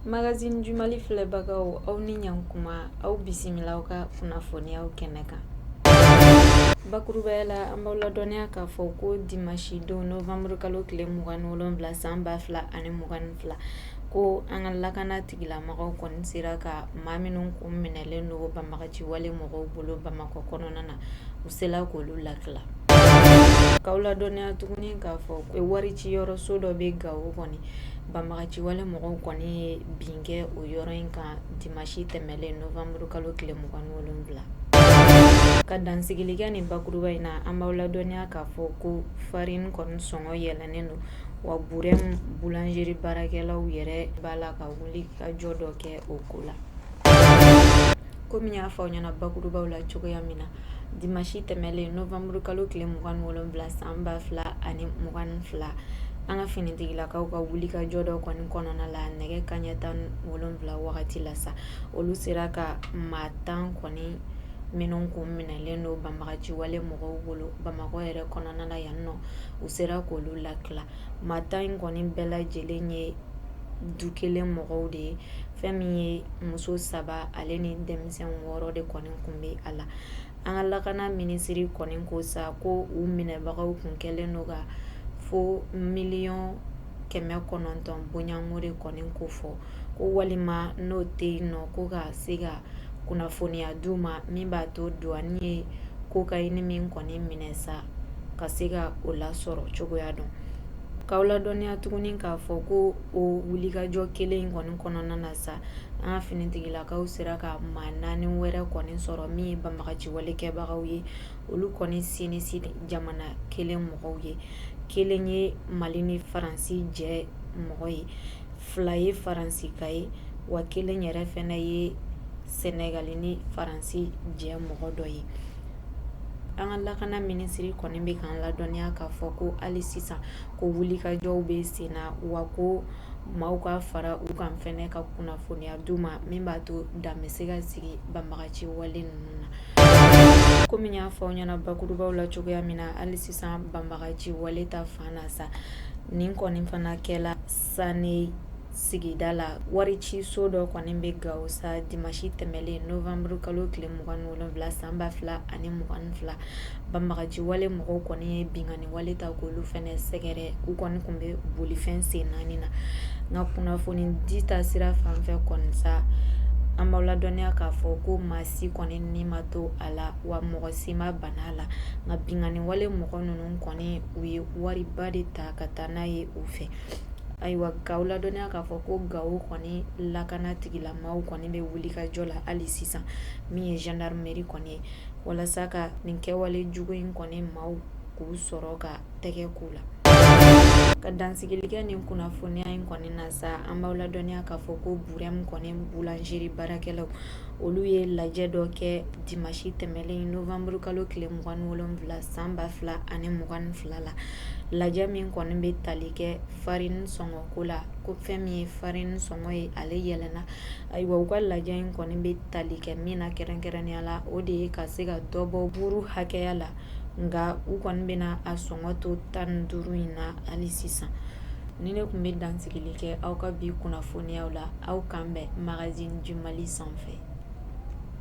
Magazine du Mali filɛbagaw aw ni ɲankuma aw bisimila aw ka kunnafoniyaw kɛnɛ kan. Bakurubaya la an b'aw ladɔnniya k'a fɔ ko dimanche don novembre kalo tile mugan ni wolonfila san ba fila ani mugan ni fila ko an ka lakana tigila mɔgɔw kɔni sera ka maa minnu kun minɛlen don banbagaci wale mɔgɔw bolo bamakɔ kɔnɔna na u sela k'olu lakila k'aw ladɔnniya tuguni k'a fɔ ko wari ci yɔrɔso dɔ bɛ gao kɔni banbagaci wale mɔgɔw kɔni ye bin kɛ o yɔrɔ in kan dimasi tɛmɛlen novembre kalo tile mugan ni wolonfila ka dansigili kɛ nin bakuruba in na an b'aw ladɔnniya k'a fɔ ko farine kɔni sɔngɔ yɛlɛnen don wa burɛmu boulangerie baarakɛlaw yɛrɛ b'a la ka wuli ka jɔ dɔ kɛ o ko la kɔmi n y'a fɔ aw ɲɛna bakurubaw la cogoya min na dimasi tɛmɛlen novembre kalo tile mugan ni wolonfila san ba fila ani mugan ni fila an ka finitigilakaw ka wuli ka jɔ dɔ kɔni kɔnɔna la nɛgɛ kanɲɛ tan ni wolonfila wagati la sa olu sera ka maa tan kɔni minnu kun minɛlen don banbagaci wale mɔgɔw bolo bamakɔ yɛrɛ kɔnɔna la yan nɔ u sera k'olu lakila maa tan in kɔni bɛɛ lajɛlen ye du kelen mɔgɔw de ye fɛn min ye muso saba ale ni denmisɛn wɔɔrɔ de kɔni kun bɛ a la an ka lakana minisiri kɔni ko sa ko u minɛbagaw kun kɛlen don ka fo miliyɔn kɛmɛ kɔnɔntɔn bɔɲɔgɔnko de kɔni kofɔ ko walima n'o tɛ yen nɔ ko ka se ka kunnafoniya di u ma min b'a to douane ye cocaïne min kɔni minɛ sa ka se ka o lasɔrɔ cogoya dɔn k'aw ladɔnniya tuguni k'a fɔ ko o wulikajɔ kelen in kɔni kɔnɔna na sa an ka finitigilakaw sera ka maa naani wɛrɛ kɔni sɔrɔ min ye banbagaci wale kɛbagaw ye olu kɔni si ni si jamana kelen mɔgɔw ye kelen ye mali ni faransi jɛ mɔgɔ ye fila ye faransika ye wa kelen yɛrɛ fɛnɛ ye sɛnɛgali ni faransi jɛ mɔgɔ dɔ ye an ka lakana minisiri kɔni bɛ k'an ladɔnniya k'a fɔ ko hali sisan ko wulikajɔw bɛ sen na wa ko maaw ka fara u kan fɛnɛ ka kunnafoniya d'u ma min b'a to dan bɛ se ka sigi banbagaci wale ninnu na komi n y'a fɔ aw ɲɛna bakurubaw la cogoya min na hali sisan banbagaci wale ta fan na sa nin kɔni fana kɛla sane sigida la wariciso dɔ kɔni bɛ Gawo sa dimasi tɛmɛlen nowanburukalo tile mugan ni wolonwula san ba fila ani mugan ni fila banbagaci wale mɔgɔw kɔni ye binkanni wale ta k'olu fana sɛgɛrɛ u kɔni tun bɛ bolifɛn sen naani na nka kunnafoni di ta sira fan fɛ kɔni sa an b'aw ladɔnniya k'a fɔ ko maa si kɔni ni ma to a la wa mɔgɔ si ma bana a la nka binkanni wale mɔgɔ ninnu kɔni u ye wariba de ta ka taa n'a ye u fɛ Ayiwa k'aw ladɔnniya k'a fɔ ko Gawo kɔni lakanatigilamaaw kɔni bɛ wulikajɔ la hali sisan min ye gendarmerie kɔni ye walasa ka nin kɛwale jugu in kɔni maaw k'u sɔrɔ ka tɛgɛ k'u la ka dansigili kɛ nin kunnafoniya in kɔni na sa an b'aw ladɔnniya k'a fɔ ko Burɛmu kɔni boulangerie baarakɛlaw olu ye lajɛ dɔ kɛ dimasi tɛmɛlen nowanburukalo tile mugan ni wolonwula san ba fila ani mugan ni fila fila la lajɛ min kɔni bɛ tali kɛ farini sɔngɔko la ko fɛn min ye farini sɔngɔ ye ale yɛlɛnna ayiwa u ka lajɛ in kɔni bɛ tali kɛ min na kɛrɛnkɛrɛnnenya la o de ye ka se ka dɔ bɔ buru hakɛya la nka u kɔni bɛna a sɔngɔ to tan ni duuru in na hali sisan ni ne tun bɛ dansigili kɛ aw ka bi kunnafoniyaw la aw kan bɛn magazine du Mali sanfɛ